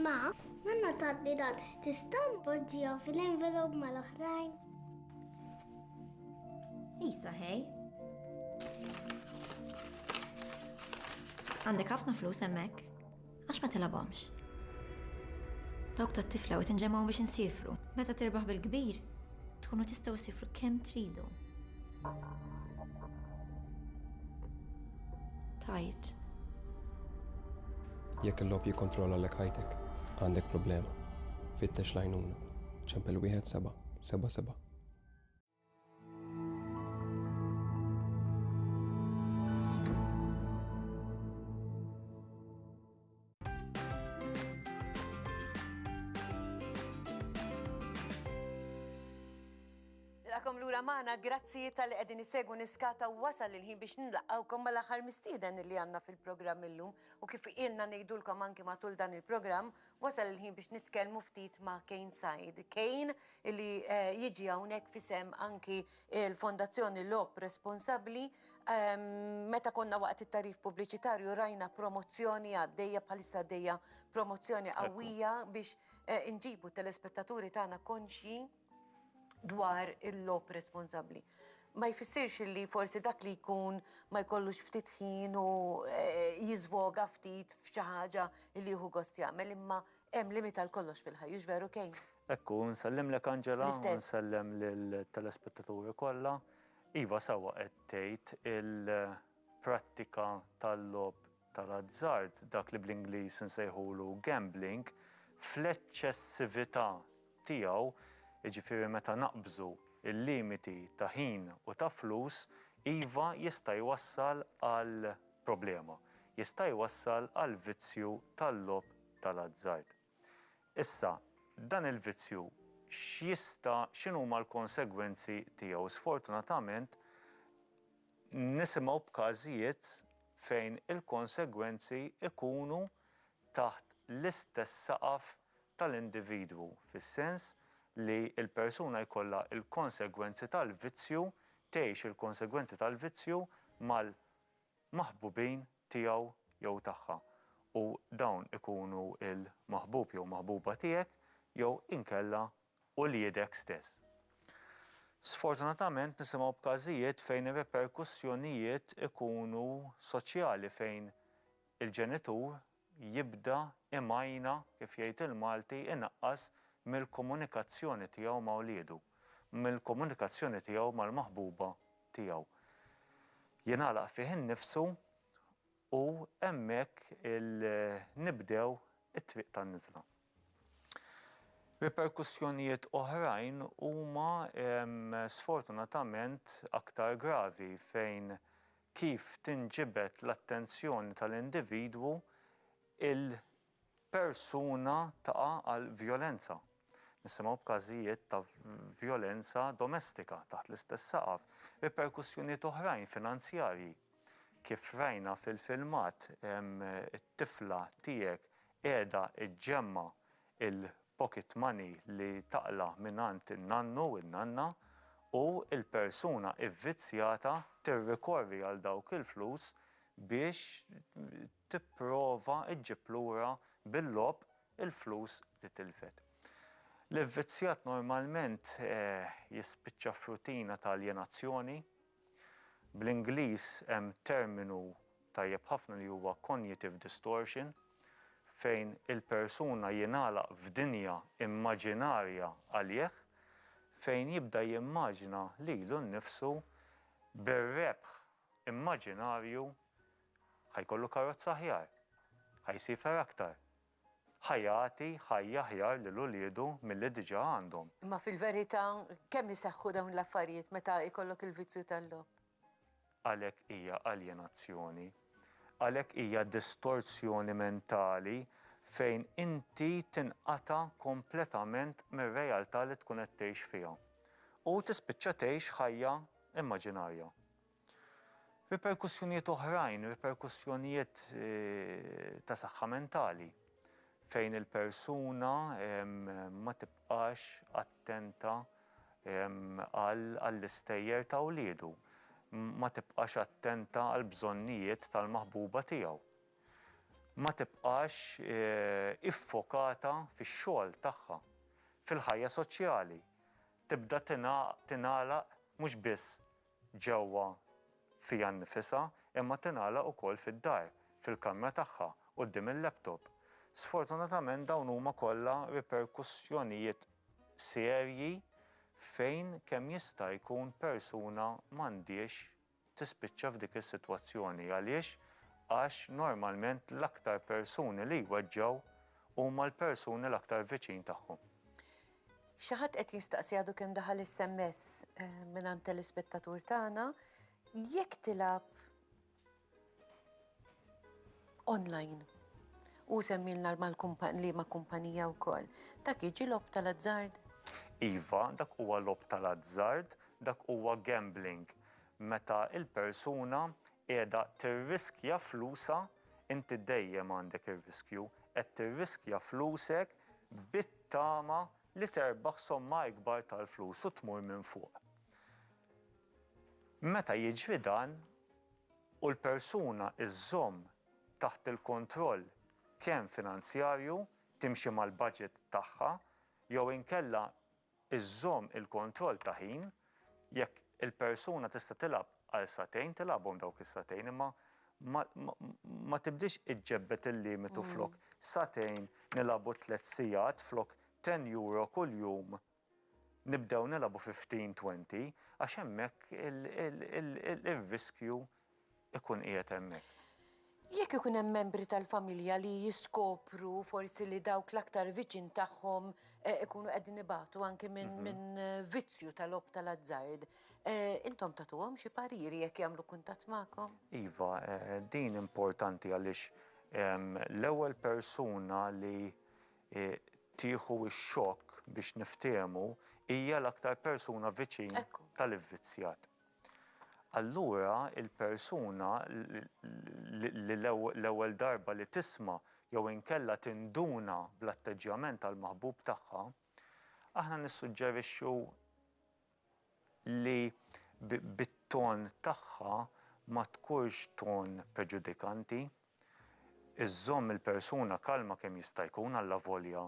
Ma, nanna taddi dan, tista' npoġġihom fil-envelop mal-oħrajn? Isa, hej. Għandek ħafna flus hemmhekk? Għax ma tilabhomx. Dawk tat-tifla u tinġemgħu biex insifru. Meta tirbaħ bil-kbir, tkunu tistgħu sifru kemm tridu. Tajt. Jekk il-lob jikkontrolla l ħajtek, għandek problema. Fittex lajnuna. ċempel wieħed seba' seba' seba'. Nilqakom lura magħna, grazzi tal-li qegħdin isegwu niskata u wasal il-ħin biex nilqawkom mal-aħħar mistieden li għandna fil-programm illum u kif ilna ngħidulkom anki matul dan il-programm wasal il-ħin biex nitkellmu ftit ma' Kane Said. Kane li eh, jiġi hawnhekk fisem anki Il-Fondazzjoni Logħob Responsabbli, meta konna waqt it-tarif pubbliċitarju rajna promozzjoni għaddejja bħalissa għaddejja promozzjoni qawwija biex eh, inġibu telespettaturi tagħna konxji dwar il-logħob responsabbli. Ma jfissirx li forsi dak li jkun ma jkollux ftit ħin u eh, jiżvoga ftit f'xi ħaġa li jieħu gost jagħmel imma Hemm limit għal kollox fil-ħajja, hux veru Kane? Hekk hu, nsellimlek Angela. L-istess. U nsellem lill-telespettaturi kollha. Iva, sewwa qed tgħid, il-prattika tal-logħob tal-azzard, dak li bl-Ingliż insejħulu gambling, fl-eċċessività tiegħu, jiġifieri meta naqbżu l-limiti ta' ħin u ta' flus, iva jista' jwassal għal problema. Jista' jwassal għal vizzju tal-logħob tal-azzard. Issa, dan il-vizzju x'jista' x'inhuma l-konsegwenzi tiegħu? Sfortunatament nisimgħu b'każijiet fejn il-konsegwenzi jkunu taħt l-istess saqaf tal-individwu, fis-sens li l-persuna jkollha l-konsegwenzi tal-vizzju, tgħix il-konsegwenzi tal-vizzju mal, maħbubin tiegħu jew tagħha, u dawn ikunu l-maħbub jew maħbuba tiegħek jew inkella uliedek stess. Sfortunatament nisimgħu b'każijiet fejn ir-riperkussjonijiet ikunu soċjali fejn il-ġenitur jibda imajna, kif jgħid il-Malti, inaqqas mill-komunikazzjoni tiegħu ma' wliedu, mill-komunikazzjoni tiegħu mal-maħbuba tiegħu. Jingħalaq fih innifsu u hemmhekk nibdew it-triq tan-niżla. Riperkussjonijiet oħrajn huma sfortunatament aktar gravi fejn kif tinġibed l-attenzjoni tal-individwu il-persuna taqa' għal vjolenza. Nisimgħu b'każijiet ta' vjolenza domestika taħt l-istess saqaf, riperkussjonijiet oħrajn finanzjarji. Kif rajna fil-filmat, it-tifla tiegħek qiegħda ġġemma' il-pocket money li taqla' mingħand in-nannu u n-nanna u l-persuna vvizzjata tirrikorri għal dawk il-flus biex tipprova ġġib lura bil-logħob il-flus li tilfet. L-ivvizzjat normalment jispiċċa f'rutina ta' aljenazzjoni. Bl-Ingliż hemm terminu tajjeb ħafna li huwa cognitive distortion fejn il-persuna jingħalaq f'dinja immaġinarja għalih fejn jibda jimmaġina lilu nnifsu bir-rebħ immaġinarju ħa jkollu karozza aħjar, ħa jsiefer aktar. Ħa jagħti ħajja aħjar lil uliedu milli diġà għandhom. Imma fil-verità, kemm iseħħu dawn l-affarijiet meta jkollok il-vizzju tal-logħob? Għalhekk hija aljenazzjoni. Għalhekk hija distorsjoni mentali fejn inti tinqata' kompletament mir-realtà li tkun qed tgħix fiha. U tispiċċa tgħix ħajja immaġinarja. Riperkussjonijiet oħrajn, riperkussjonijiet ta' saħħa mentali fejn il-persuna ma tibqax attenta għall-istejjer ta' wliedu, ma tibqax attenta għall-bżonnijiet tal-maħbuba tiegħu, ma tibqax iffokata fix-xogħol tagħha, fil-ħajja soċjali, tibda tingħalaq mhux biss ġewwa fiha nnifisha, imma tingħalaq ukoll fid-dar, fil-kamra tagħha, quddiem il-laptop. Sfortunatament dawn huma kollha riperkussjonijiet serji fejn kemm jista' jkun persuna m'għandhiex tispiċċa f'dik is-sitwazzjoni. Għaliex? Għax normalment l-aktar persuni li jweġġgħu huma l-persuni l-aktar viċin tagħhom. Xi ħadd qed jistaqsi għadu kemm daħal is-SMS mingħand telespettatur tagħna, jekk tilgħab online u semmilna mal-kumpan liema kumpanija wkoll, dak jiġi logħob tal-azzard? Iva, dak huwa logħob tal-azzard, dak huwa gambling. Meta l-persuna qiegħda tirriskja flusha, inti dejjem għandek ir-riskju, qed tirriskja flusek bi. Tama li terbaħ somma ikbar tal-flus u tmur minn fuq. Meta jiġri dan, u l-persuna żżomm taħt il-kontroll kemm finanzjarju, timxi mal-budget tagħha, jew inkella żżomm il-kontroll ta' ħin, Jekk il-persuna tista' tilgħab għal sagħtejn, tilgħabhom dawk is-sagħtejn imma ma tibdiex iġġebbed il-limitu flok sagħtejn nilgħabu tliet sigħat flok ten euro kuljum nibdew nilgħabu fifteen, twenty għax hemmhekk ir-riskju ikun qiegħed hemmhekk. Jekk ikun hemm membri tal-familja li jiskopru forsi li dawk l-aktar viċin tagħhom ikunu qegħdin ibatu anki minn vizzju tal-logħob tal-azzard, intom tagħtuhom xi pariri jekk jagħmlu kuntatt magħkom? Iva, din importanti għaliex l-ewwel persuna li tieħu x-xokk biex niftehmu hija l-aktar persuna viċin tal-ivvizzjat. allura l-persuna li l-ewwel darba li tisma' jew inkella tinduna bl-atteġġjament tal-maħbub tagħha, aħna nissuġġerixxu li bit-ton tagħha ma tkunx ton preġudikanti. iżżomm il-persuna kalma kemm jista' jkun allavolja,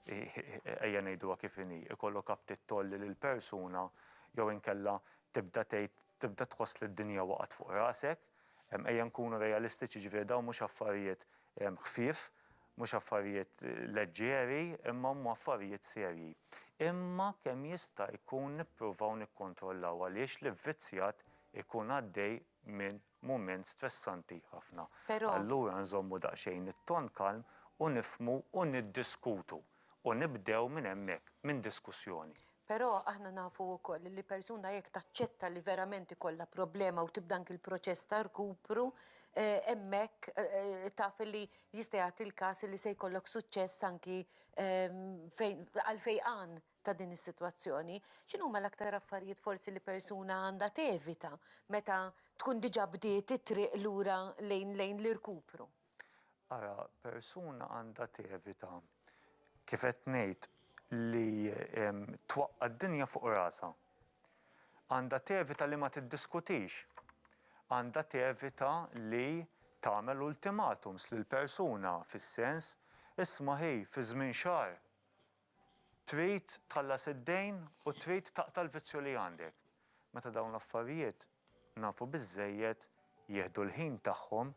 ejja ngħiduha kif inhi, ikollok aptit tgħolli lill-persuna jew inkella tibda tgħid, tibda tħoss li d-dinja waqgħet fuq rasek. Ejja nkunu realistiċi, jiġifieri dawn mhux affarijiet ħfief, mhux affarijiet leġġeri, imma huma affarijiet serji. Imma kemm jista' jkun nippruvaw nikkontrollaw għaliex l-ivvizzjat ikun għaddej minn mument stressanti ħafna. Però. Allura nżommu daqsxejn it-ton kalm u nifhmu u niddiskutu u nibdew minn hemmhekk, minn diskussjoni. Però aħna nafu wkoll li persuna jekk taċċetta li verament ikollha problema u tibda anki l-proċess ta' rkupru, hemmhekk taf li jista' jagħti l-każ li se jkollok suċċess anki fejn għal fejqan ta' din is-sitwazzjoni, x'inhuma l-aktar affarijiet forsi li persuna għandha tevita meta tkun diġà bdiet it-triq lura lejn lejn l-irkupru? Ara, persuna għandha tevita, kif qed ngħid, li twaqqa' d-dinja fuq rasha. Għandha tevita li ma tiddiskutix. Għandha tevita li tagħmel ultimatums lill-persuna fis-sens, isma' hi, fi żmien xahar, Trid tħallas id-dejn u trid taqta' l-vizzju li għandek. Meta dawn l-affarijiet nafu biżżejjed jieħdu l-ħin tagħhom,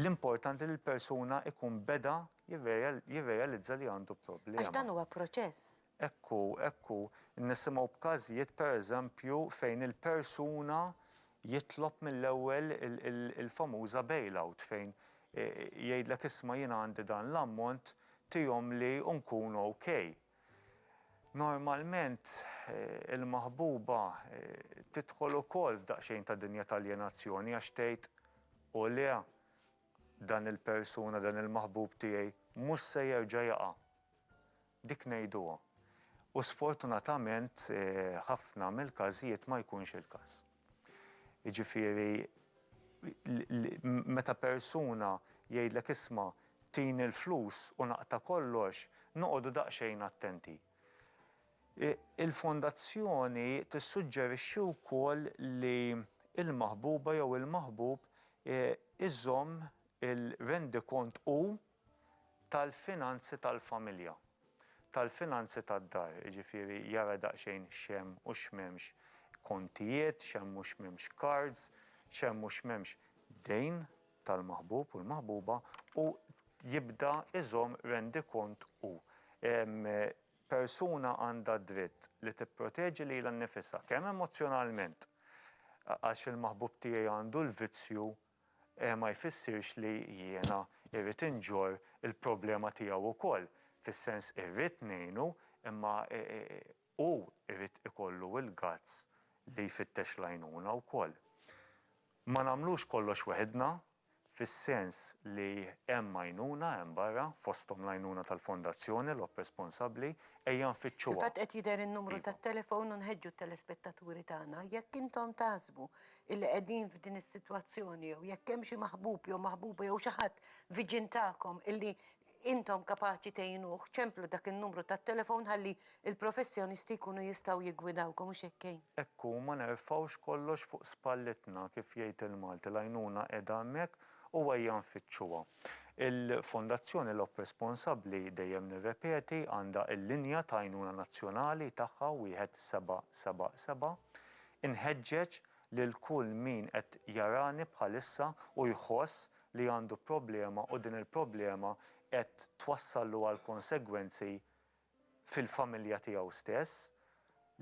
l-importanti li l-persuna jkun beda jirrealizza li għandu problema. Għax dan huwa proċess. Hekk hu, hekk hu. Nisimgħu b'każijiet, per eżempju, fejn il-persuna jitlob mill-ewwel il-famuża bail-out fejn Jgħidlek isma' jiena għandi dan l-ammont, tihomli u nkun OK. Normalment il-maħbuba tidħol ukoll f'daqsxejn ta' dinja ta' aljenazzjoni għax tgħid, O le, dan il-persuna, dan il-maħbub tiegħi mhux se jerġa' jaqa'. Dik ngħiduha. U sfortunatament ħafna mill-każijiet ma jkunx il-każ. Jiġifieri meta persuna jgħidlek isma' tini l-flus u naqta' kollox, noqogħdu daqsxejn attenti. Il-Fondazzjoni tissuġġerixxi wkoll li l-maħbuba jew il-maħbub iżomm il-rendikont hu tal-finanzi tal-familja, tal-finanzi tad-dar, jiġifieri jara daqsxejn x'hemm u x'm'hemmx kontijiet, x'hemm u x'm'hemmx cards, x'hemm u x'm'hemmx dejn tal-maħbub u l-maħbuba u jibda iżomm rendikont hu. Persuna għandha d-dritt li tipproteġi lilha nnifisha kemm emozzjonalment għax il-maħbub tiegħi għandu l-vizzju ma jfissirx li jiena irrid inġorr il-problema tiegħu wkoll, fis-sens irrid ngħinu imma hu jrid ikollu l-guts li jfittex l-għajnuna wkoll. Ma nagħmlux kollox weħidna, fis-sens li hemm għajnuna hemm barra, fosthom l-għajnuna tal-Fondazzjoni, l-op responsabbli, ejja nfittxuha. Fil-fatt qed jidher in-numru tat-telefon u nħeġġu t-telespettaturi tagħna, jekk intom taħsbu illi qegħdin f'din is-sitwazzjoni jew jekk hemm xi maħbub jew maħbuba jew xi ħadd viċin tagħkom illi intom kapaċi tgħinuh, ċemplu dak in-numru tat-telefon ħalli l-professjonisti jkunu jistgħu jiggwidawkom, hux hekk Kane? Hekk hu, ma nerfgħux kollox fuq spallitna, kif jgħid il-Malti, l-għajnuna qiegħda hemmhekk u ejja nfittxuha. Il-Fondazzjoni Lop Responsabbli, dejjem nirrepeti, għandha l-linja ta' għajnuna nazzjonali tagħha 1777. Inħeġġeġ lil kull min qed jarani bħalissa u jħoss li għandu problema u din il-problema qed twassallu għal konsegwenzi fil-familja tiegħu stess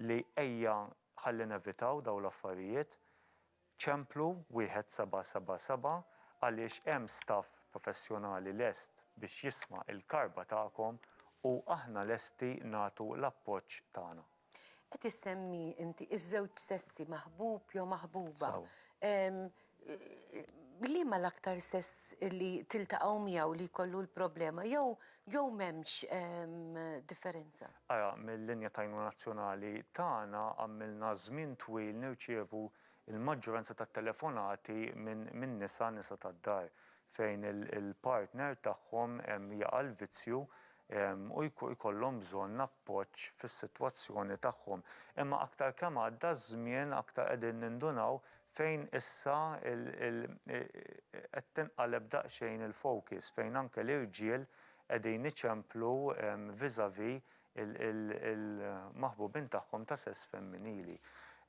li ejja ħalli nevitaw dawn l-affarijiet, ċemplu wieħed seba' seba' seba' għaliex hemm staff professjonali lest biex jisma' l-karba tagħkom u aħna lesti nagħtu l-appoġġ tagħna. Qed issemmi inti iż-żewġ sessi maħbub jew maħbuba. Liema l-aktar sess li tiltaqgħu miegħu li jkollu l-problema jew jew m'hemmx differenza? Ara, mil-linja t'għajnuna nazzjonali tagħna għamilna żmien twil nirċievu l-maġġoranza tat-telefonati minn nisa, nisa tad-dar. fejn il-partner tagħhom jaqa' l-vizzju u jkollhom bżonn appoġġ fis-sitwazzjoni tagħhom. Imma aktar kemm għadda ż-żmien aktar qegħdin nindunaw fejn issa qed tinqaleb daqsxejn il-focus, fejn anke l-irġiel qegħdin iċemplu vis-à-vis il-maħbubin tagħhom ta' sess femminili.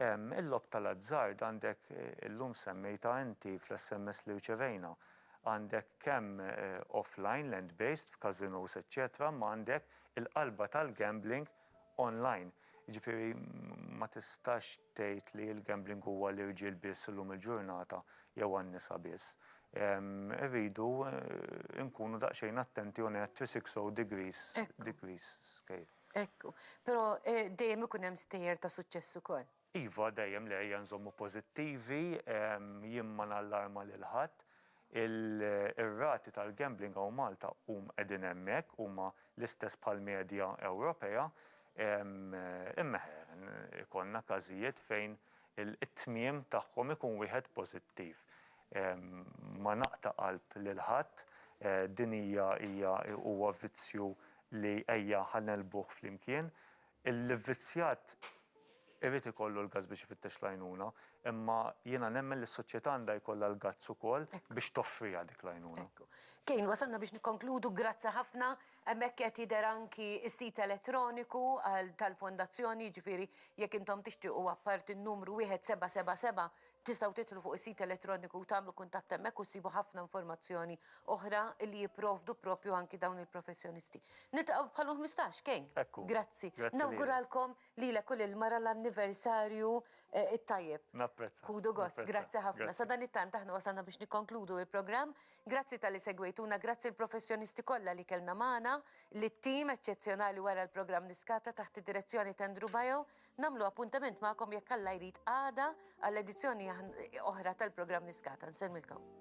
Il-logħob tal-azzard għandek, illum semmejtha inti fl-SMS li rċevejna, għandek kemm offline, land-based, f'casinos eċċetera, imma għandek il-qalba tal-gambling online. Jiġifieri ma tistax tgħid li l-gambling huwa għall-irġiel biss illum il-ġurnata jew għan-nisa biss. Irridu nkunu daqsxejn attenti on a 360 degrees, degrees scale. Ekku. Però dejjem ikun hemm stejjer ta' suċċess ukoll. Iva, dejjem le ejja nżommu pożittivi, jien ma nallarma lil ħadd. Ir-rati tal-gambling hawn Malta hum qegħdin hemmhekk, huma l-istess bħall-medja Ewropea. Imma ikollna każijiet fejn it-tmiem tagħhom ikun wieħed pożittiv. Ma naqta' qalb lil ħadd, din hija hija huwa vizzju li ejja ħa negħlbuh flimkien. L-ivvizzjat irid ikollu l-gazz biex ifittex l-għajnuna, imma jiena nemmen li s-soċjetà għandha jkollha l-gazz ukoll biex toffriha dik l-għajnuna. Ekku. Kane, wasalna biex nikkonkludu, grazzi ħafna. Hemmhekk qed jidher anki s-sit elettroniku tal-Fondazzjoni, jiġifieri jekk intom tixtiequ apparti n-numru wieħed seba' seba' seba' tistgħu tidħlu fuq is-sit elettroniku u tagħmlu kuntatt hemmhekk u ssibu ħafna informazzjoni oħra li jipprovdu proprju anki dawn il-professjonisti. Niltaqgħu bħal-ħmistax, Kane? Ekku. Grazzi. Grazzi lilek. Nawguralkom Lilek u lil mara l-anniversarju t-tajjeb. Napprezza. Ħudu gost. Grazzi ħafna. Sadanittant aħna wasalna biex nikkonkludu l-programm. Grazzi talli segwejtuna, grazzi l-professjonisti kollha li kellna magħna, lit-tim eċċezzjonali wara l-programm Niskata taħt id-direzzjoni t'Andrew Baio. Nagħmlu appuntament magħkom jekk Alla jrid għada għal edizzjoni oħra tal-programm Niskata. Nsellmilkom.